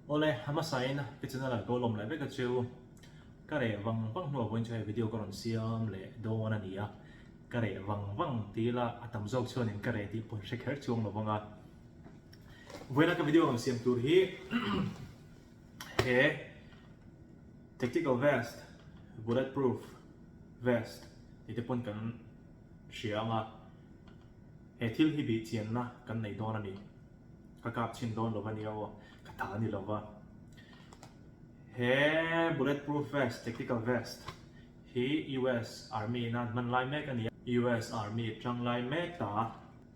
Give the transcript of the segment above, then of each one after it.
Awle ama sain ka channel an ko lawm leh vek a chu ka reh vang vang hnu ah pawhin chu hei video ka rawn siam leh dawn a ni a, ka reh vang vang ti ila a tam zawk chuanin ka reh tih pawh hre kher chuang lo vang a. Vawina ka video rawn siam tur hi he tactical vest, bullet proof vest tih te pawn kan hria anga, he thil hi bih chianna kan nei dawn a ni. Ka kap chhin dawn lo ania aw, ka tha a ni lo va. He bullet proof vest, tactical vest, hi US Army in an hman lai mek a ni a, US Army tang lai mek ta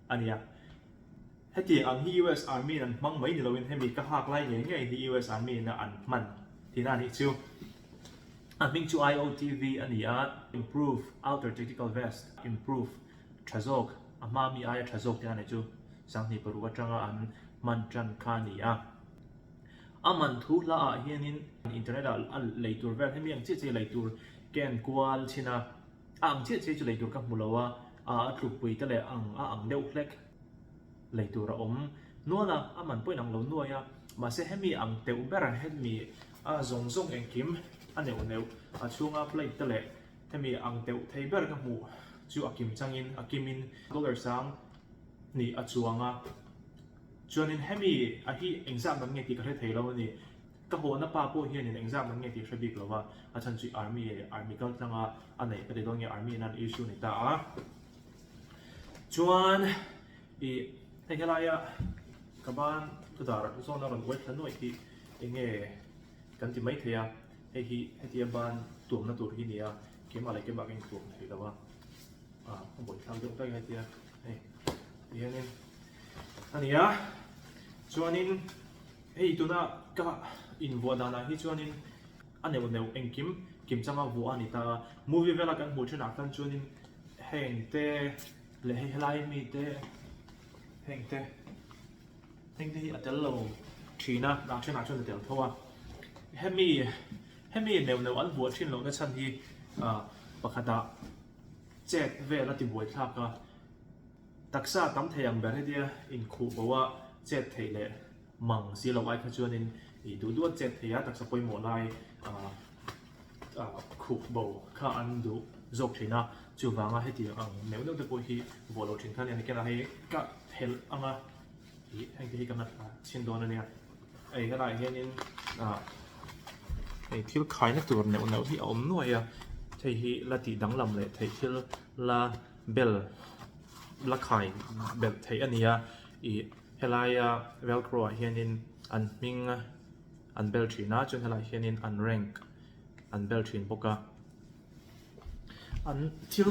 a ni a. Hetiang ang hi US Army in an hmang mai ni lo in hemi ka hak lai ngei ngei hi US Army in an hman tihna a nih chu. A hming chu IOTV a ni a, Improve Outer Tactical Vest, Improve Tha zawk, a hma mi aia tha zawk te a nih chu sanghnih paruk atanga an hman tan kha a ni a. A man thu hla ah hianin internet ah a lei tur vel hemi ang chiah chiah lei tur ka enkual chhin a, a ang chiah chiah chu lei tur ka hmu lo a, a tlupui te leh ang a ang deuh hlek lei tur a awm nual a, a man pawhin ang lo nuai a, mahse hemi ang teuh ber hemi A zawng zawng engkim a neuh neuh, a chhunga plate te leh hemi ang deuh thei ber ka hmuh chu a kim changin a kim in dollar sang hnih a chuang a, chuanin hemi a hi eng zam lam nge tih ka hre thei lo a ni, ka hawhna pa pawh hianin eng zam lam nge tih a hre bik lo a, a chhan chu army army kal tlang a, a neih ka ti dawn nge army in an issue a ni ta a, chuan ih heng helai a ka ban thu dar zawn a rawn uai thla nuaih tih. Eng nge kan ti mai thei a, hei hi hetia ban tuamna tur hi nia, kema leh kemah ka intuam thei lo a, ah ka bawihhlak deuh daih a hetia hei ti hianin a ni a, chuanin hei tuna ka invuah danah hi chuanin a neuh neuh engkim kim changa vuah a ni ta a, movie vela kan hmuh thinah khan chuanin heng te leh hei helai mite heng te. Heng te hi a tel lo thin a, dah thenah chuan a tel tho a. Hemi hemi neuh neuh an buah thin lohna chhan hi pakhatah chet vel a tibuai thlak a, taksa tam thei ang ber hetia inkhuh boha chet theih leh mang si lo ai kha chuanin i duhduan chet theia taksa pawimawh lai khuk bo kha an duh zawk thin a, chuvanga heti ang neuh neuh te pawh hi vuah loh thin kha nia, nikhenah hi ka phelh ang a tih hengte hi ka nat a chhin dawn ania, hei khanah hianin hei thil khaina tur neuh neuh hi a awm nuai a, hei hi la tih danglam leh theih thil la bel la khai belh theih ania, ih helaia velcro ah hianin an hming a. An bel thin a, chuan helaiah hianin an rank an bel thin bawk a. An thil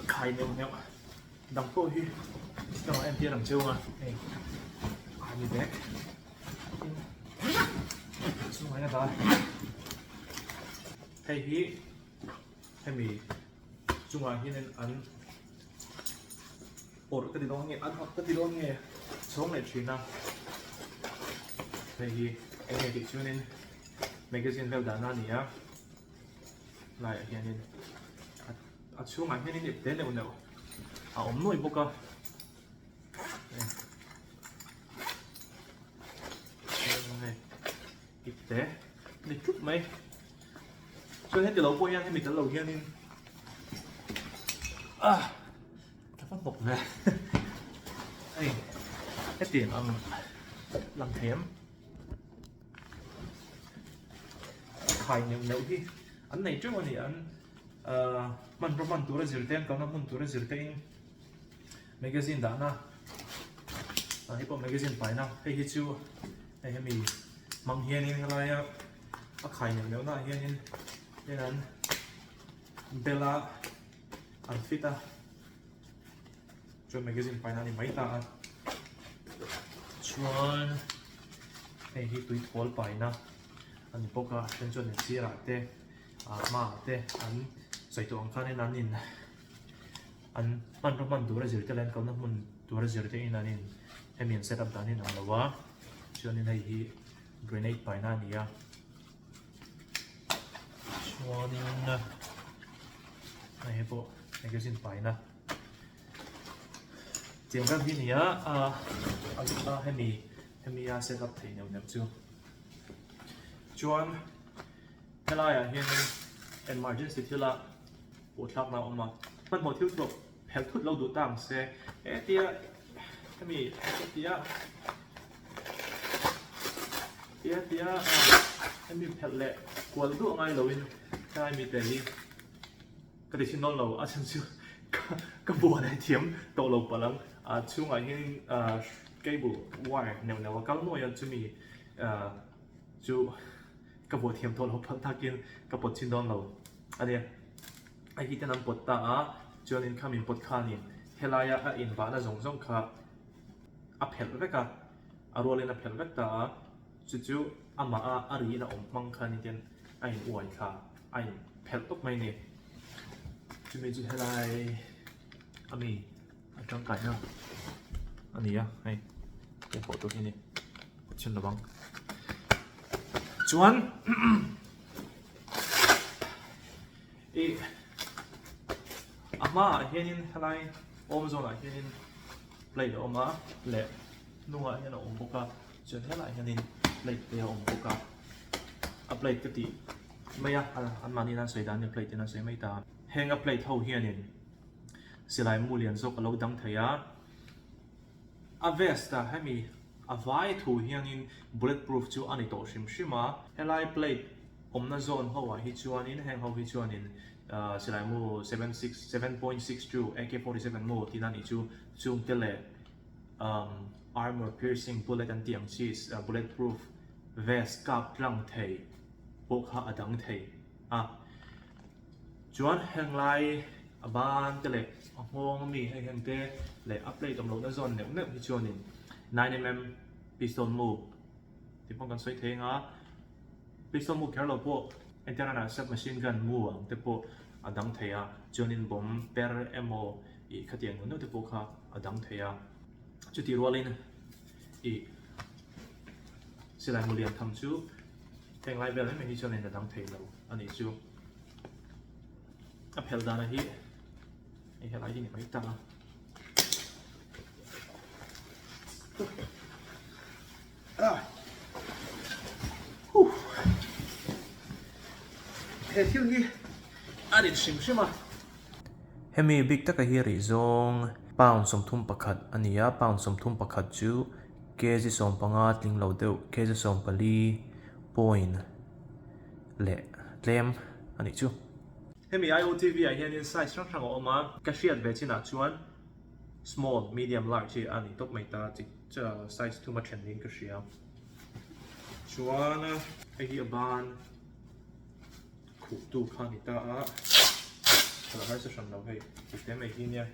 khai neuh neuh dang pawh hi chutah entir ang cheu a, hei a ni ve. Tin a chhungah hian a dar a, hei hi hemi chungah hianin an. Awrh, ka ti dawn nge, an ka ti dawn nge, chhawng leh thin a, hei hi eng nge tih chuanin magazine vel dan a nia, laiah hianin a chhungah hianin ip te neuh neuh a awm nuai bawk a, hei ip te ni tlup mai, chuan heti lo pawh hian hemi kal lo hianin ah. Thapa bawk ve ei heti ang ang lam thei em khai neuh neuh hi an nei teuh a ni an ahh hman rawh hman tura zir te an kalna hmun tura zir tein magazine dahna ah hi pawh magazine paina hei hi chu hei hemi hmang hianin helaia a khai neuh neuh nahah hianin hei an bela. An fit a, chuan magazine paina a ni mai ta a. Chuan hei hi tui thual paina a ni bawk a, then chuan in sirah te ah hmaah te an sawi tawh ang khan in an in an hman rawn hman tura zir te leh an kalna hmun tura zir te in an in hemi an setup dan hi a ni lo a, chuan in hei hi grenade paina a ni a. chuanin hei hi pawh magazine paina chiang rang hi a ni a a zut a hemi hemia set up thei neuh neuh chu chuan helaiah hianin emergency thila pawhthlakna a awm a hmanhmawh thil thlawp. Phelh thut lo duh ta ang se. He tia hemi ka ti a tia tia hemi phelh leh kual duah ngai lo in helai mi te hi ka ti sin dawn lo a chhan chu ka buan a thiam tawh lo palh ang a chhungah hian cable wire neuh neuh a kal nuai a chumi chu ka buahthiam tawh lo palh takin ka pawt chin dawn lo a nia. A hi ten an pawt ta a, chuan in khamin pawt khanin helaia a inbahna zawng zawng kha a phelh vek a, a rualin a phelh vek ta a, chu chu amaha a ri in a awm hmang khanin ten a in uai thla a in phelh tawp mai a ni. Chumi chu helai a mi a tangkaihna a ni a, hei hei pawh tur hi a ni pawt chin lovang. Chuan. I a hmaah hianin helai awm zawnah hianin plate a awm a leh hnungah hian a awm bawk a chuan helaiah hianin plate te a awm bawk a a plate ka tih mai a anmahniin an sawi dan ania plate ten an sawi mai ta a heng a plate ho hianin silai mu lian zawk a lo dang thei a a vest a hemi A vai thu hiangin bullet proof chu a ni tawh hrim hrim a. Helai plate awmna zone ho ah hi chuanin heng ho hi chuanin Silaimu seven six seven point six two AK forty seven maw tiin a nih chu, chung te leh umm armour piercing bullet an tih ang chi bullet proof vest kap tlang thei pawh kha a dang thei a. Chuan heng lai a ban te leh a nghawng ami hei heng te leh a plate awm lo na zawn neuh neuh hi chuanin nine mm piston muk tih pawh kan sawi thei ang a, piston muk kher lo pawh ential a nalh sep machine gun mu ang te pawh a dang thei a, chuanin bomb per emaw ih khatiang neuh neuh te pawh kha a dang thei a, chutih rualin ih silai mu lian tham chu heng lai vel em em hi chuanin a dang thei lo anih chu. a phelh dan a hi hei helai hi ni mai tak a ah huh he thil hi a rin hrim hrim a hemi bik taka hi rih zawng pound sawmthum pakhat a ni a pound sawmthum pakhat chu kg sawmpanga tlinglo deuh kg sawmpali point. leh tlem a nih chu. Hemi IOTV ah hian in size hrang hrang a awm a, ka hriat ve chin ah chuan small, medium, large hi a ni tawp mai ta, chi size thuma then niin ka hria. Chuan hei hi a ban khuh tu kha a ni ta a, ka la har chu hran lo hei, tih te mai hi nia.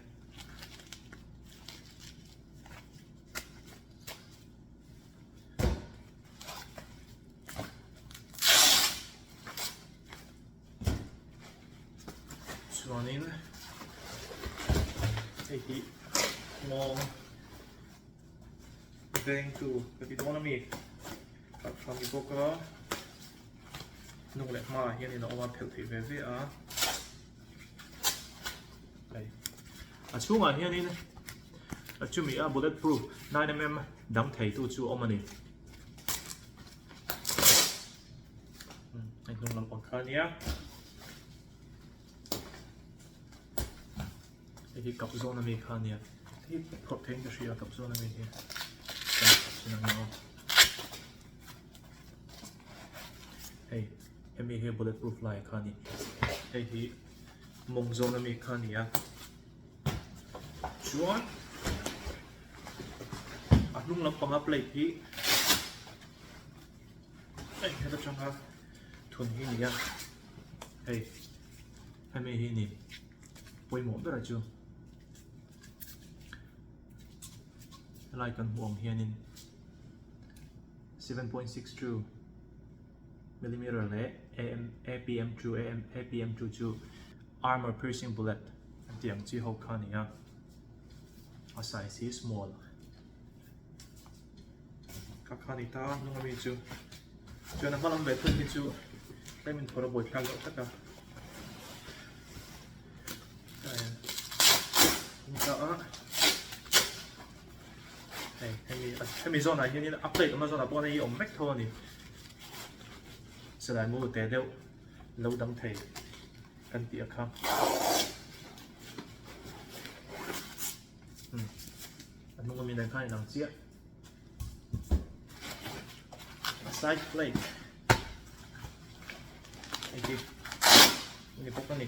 chuanin hei hi nghawng veng tu ka ti dawn a mi khat hran bawk a hnung leh hmaah hian in a awm a phelh thei ve ve a. hei a chhungah hianin a chumi a bullet proof nine mm dang thei tu chu a awm a ni hei hnung lampang kha nia hei hi kap zawn ami kha nia hei hi phawt theih in ka hria kap zawn ami hi hei Hemi hi bullet proof lai kha ni. Hei hi mawng zawng na mi kha ni a. Chuan a hnung lampanga plate hi hei heta changa thun hi ni a. Hei hemi hi ni pawimawh bera chu. Helai kan hmuh ang hianin 7.62 Millimetre leh AM, APM chu, AM, APM chu chu armor piercing bullet an tih ang chi ho kha a ni a, a size hi small kha kha a ni ta, hnung ami chu chuan a hma lam leh phun hi chu tlem in phawrh a buai thlak deuh tak a, ta hian tum ta a. Hei, hemi, hemi zawnah hian in a plate awmna zawnah pawh hei a awm vek tho a ni. Selai maw teh deuh lo dang thei kan tih a kha. Hmm. A hnung awmin a kha in ang chiah. Side plate. Hei hi. Ini bawk a ni.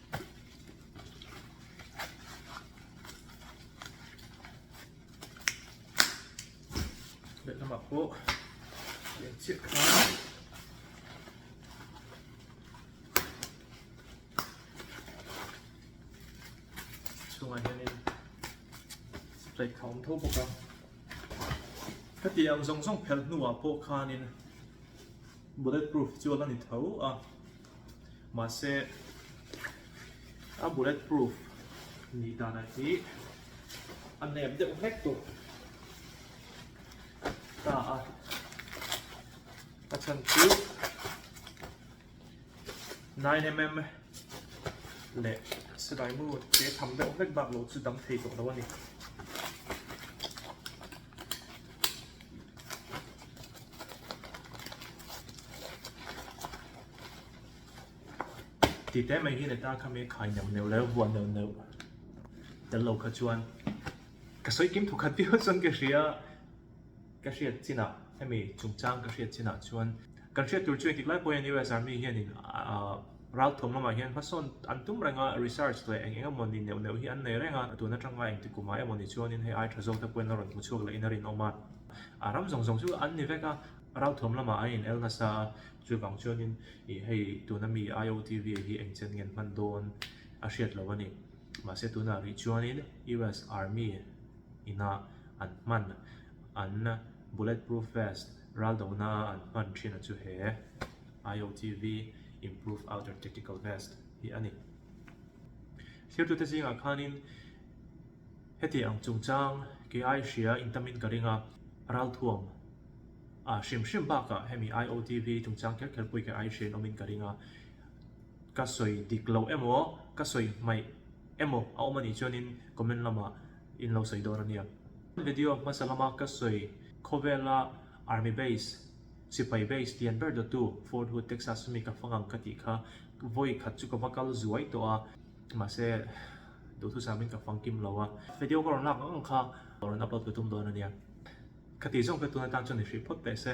Let lamah pawh eng chiah kha chhungah hian in spray kha awm tho bawk a hetiang zawng zawng phelh hnuah pawh khan in bullet proof chu a la ni tho a. Mahse, a bullet proof ni danah hi a nep deuh hlek tawh ta a, a chhan chu nine mm leh sebae maw che tham deuh hlek baklo chu dam thei tawh lo a ni. Tite mai hi le ta kha me khai neuh neuh leh vuah neuh neuh tel lo kha chuan ka sawi kim thawkhat viau chuan ka hria ka hriat chin ah hemi chungchang ka hriat chin ah chuan kan hriat tur chu engtik lai pawhin US Army hianin ah Ral thum lamah hian hmasawn an tum renga research leh eng eng emaw ni neuh neuh hi an nei reng a, tun atanga engtikumah emaw ni chuanin hei ai tha zawk te pawhin la rawn hmu chhuak lehin a rinawm a. A ram zawng zawng chu an ni vek a. Ral thum lamah an inel nasa a, chuvang chuanin ih hei tun ami IOTV hi eng chen ngen hman dawn a hriat lo a ni. Mahse tunah rih chuanin US Army ina an hman an bullet proof vest ral dona an hman thin a chu he. IOTV, Improved Outer Tactical Vest, hi a ni. Thirtute zingah khanin heti ang chungchang kei ai hria intamin ka ring a, ralthuam a hrim hrim bakah hemi IOTV chungchang kher kher pawh i kei ai hriain awmin ka ring a, ka sawi dik loh emaw, ka sawi hmaih emaw a awm a nih chuanin comment lama in lo sawi dawn a nia. Video hmasa lama ka sawi khawvela Army Base, Sipai base lian ber dawtu Fort Hood, Texas ami ka hmangang ka tih kha vawi khat chu ka va kal zuai tawh a, mahse duhthusam ah hian ka fang kim lo a. Video ka rawn lak ang ang kha ka rawn upload ka tum dawn a nia. Khatih zawng ka tun atan chuan i hrih phawt teh se.